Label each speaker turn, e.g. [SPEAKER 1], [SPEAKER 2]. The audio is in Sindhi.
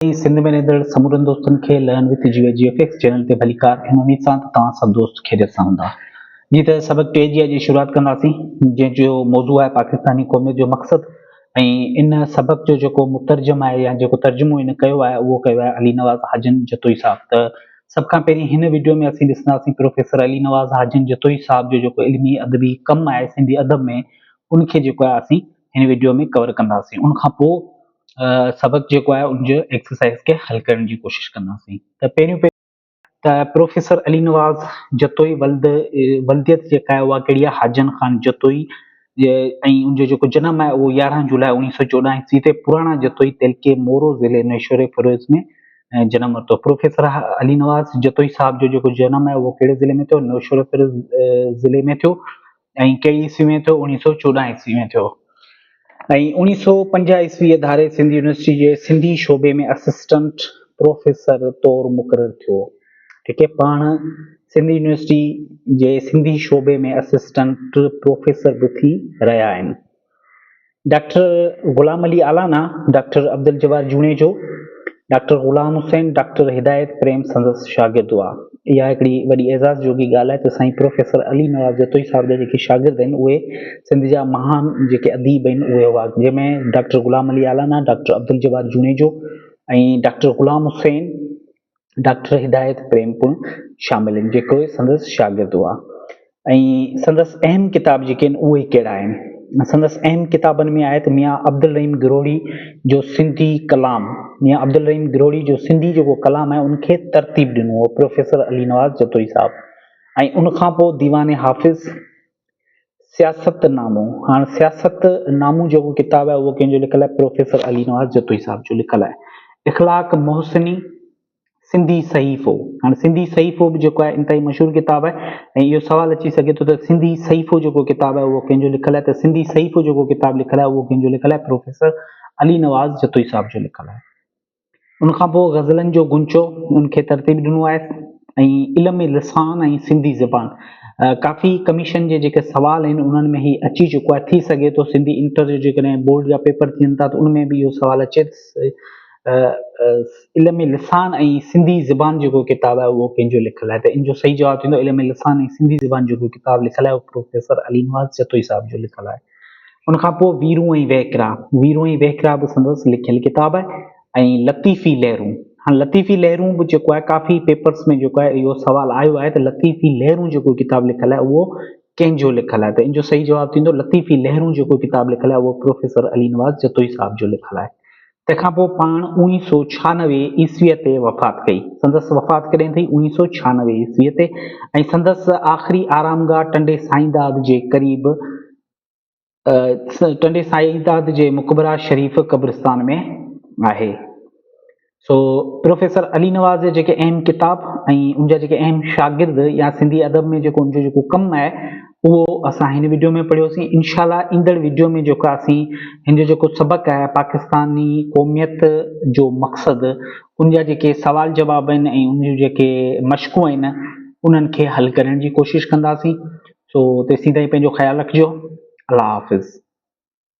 [SPEAKER 1] اهي سنڌ ۾ رهندڙ سمورن دوستن کي learn with Geo G F X channel تي ڀليڪار ان اميد سان ته توهان سڀ دوست خيريت سان هوندا جي ته سبق ٽي جي اڄ شروعات ڪنداسين جنهن جو موضوع آهي پاڪستاني قوميت جو مقصد ۽ ان سبق جو جيڪو مترجم آهي يا جيڪو ترجمو ان ڪيو آهي اهو ڪيو آهي علي نواز حاجن جتوئي صاحب ته سڀ کان پهرين هن وڊيو ۾ اسين ڏسنداسين پروفيسر علي نواز حاجن جتوئي صاحب جو جيڪو علمي ادبي ڪم آهي سنڌي ادب ۾ ان کي جيڪو آهي اسين هن وڊيو ۾ ڪور ڪنداسين ان کان پوء سبق جيڪو آهي ان جو ايڪسرسائز کي حل ڪرڻ جي ڪوشش ڪنداسين ته پهريون پهريون ته پروفيسر علي نواز جتوئي ولد ولديت جيڪا آهي اها ڪهڙي آهي حاجن خان جتوئي ۽ ان جو جيڪو جنم آهي اهو يارهن جولاء اوڻيهه سو چوڏهن عيسوي تي پراڻا جتوئي تعلقي مورو ضلعي نيشوري فروز ۾ جنم ورتو پروفيسر علي نواز جتوئي صاحب جو جيڪو جنم آهي اهو ڪهڙي ضلعي ۾ ٿيو نيشوري فروز ضلعي ۾ ٿيو ۽ ڪهڙي عيسوي ۾ ٿيو؟ اوڻيهه سؤ چوڏهن عيسوي ۾ ٿيو ۽ اوڻيهه سؤ پنجاهه عيسويء ڌاري سنڌ يونيورسٽيء جي سنڌي شعبي ۾ اسسٽنٽ پروفيسر طور مقرر ٿيو. ٺيڪ اهي پاڻ سنڌ يونيورسٽيء جي سنڌي شعبي ۾ اسسٽنٽ پروفيسر به ٿي رهيا آهن. Doctor Ghulam Ali Allana, doctor Abdul Jabbar Junejo, doctor Ghulam Hussain, doctor Hidayat Prem سندس شاگرد هئا. اها هڪڙي وڏي اعزاز جوڳي ڳالهه آهي ته سائين پروفيسر علي نواز جتوئي صاحب جا جيڪي شاگرد آهن اهي سنڌ جا مهان جيڪي اديب آهن اهي هئا جنهن ۾ doctor Ghulam Ali Allana, doctor Abdul Jabbar Junejo ۽ doctor Ghulam Hussain, doctor Hidayat Prem پڻ شامل آهن جيڪي سندس شاگرد هئا ۽ سندس اهم ڪتاب جيڪي آهن اهي ڪهڙا آهن سندس اهم ڪتابن ۾ آهي ته ميان عبدالرحيم گروڙي جو سنڌي ڪلام ميان عبدالرحيم گروڙي جو سنڌي جيڪو ڪلام آهي ان کي ترتيب ڏنو هو پروفيسر علي نواز جتوئي صاحب ۽ ان کان پوء ديوان حافظ سياست نامو، هاڻ سياست نامو جيڪو ڪتاب آهي اهو ڪنهن جو لکيل آهي پروفيسر علي نواز جتوئي صاحب جو لکيل آهي. اخلاق محسني، سنڌي صحيفو، هاڻ سنڌي صحيفو به جيڪو آهي انتهائي مشهور ڪتاب آهي ۽ اهو سوال اچي سگهي ٿو ته سنڌي صحيفو جيڪو ڪتاب آهي اهو ڪنهن جو لکيل آهي ته سنڌي صحيفو جيڪو ڪتاب لکيل آهي اهو ڪنهن جو لکيل آهي پروفيسر علي نواز جتوئي صاحب جو لکيل آهي. ان کان پوء غزلن جو غنچو ان کي ترتيب ڏنو آهي ۽ علم لسان ۽ سنڌي زبان ڪافي ڪميشن جي جيڪي سوال آهن انهن ۾ هي اچي چڪو آهي ٿي سگهي ٿو سنڌي انٽر جو جيڪڏهن بورڊ جا پيپر ٿين ٿا ته ان ۾ به اهو سوال اچي علم لسان ۽ سنڌي زبان جيڪو ڪتاب آهي اهو ڪنهن جو لکل آهي ته ان جو صحيح جواب ٿيندو علم لسان ۽ سنڌي زبان جيڪو ڪتاب لکل آهي اهو پروفيسر علي نواز جتوئي صاحب جو لکل آهي ان کان پوء ويرون ۽ وهڪرا، ويرون ۽ وهڪرا به سندس لکيل ڪتاب آهي ۽ لطيفي لهرون، هاڻ لطيفي لهرون به جيڪو آهي ڪافي پيپرس ۾ جيڪو آهي اهو سوال آيو آهي ته لطيفي لهرون جيڪو ڪتاب لکيل آهي اهو ڪنهن جو لکيل آهي ته ان جو صحيح جواب ٿيندو لطيفي لهرون جيڪو ڪتاب لکيل آهي اهو پروفيسر علي نواز جتوئي صاحب جو لکيل آهي تنهن کان پوء پاڻ اوڻيهه سؤ ڇهانوي عيسويء تي وفات ڪئي. سندس وفات ڪڏهن ٿي؟ اوڻيهه سؤ ڇهانوي عيسويء تي ۽ سندس آخري آرامگاهه ٽنڊي سائين داد جي قريب ٽنڊي سائين داد جي مقبره شريف قبرستان ۾ آهي. سو پروفيسر علي نواز جا جيڪي اهم ڪتاب ۽ ان جا جيڪي اهم شاگرد يا سنڌي ادب ۾ جيڪو ان جو جيڪو ڪم آهي، اهو اسان هن وڊيو ۾ پڙهيوسين انشاء الله ايندڙ وڊيو ۾ جيڪو اسين هن جو جيڪو سبق آهي پاڪستاني قوميت جو مقصد ان جا جيڪي سوال جواب آهن ۽ ان جون جيڪي مشقون آهن انهن کي حل ڪرڻ جي ڪوشش ڪنداسين سو تيسين تائين پنهنجو خيال رکجو الله حافظ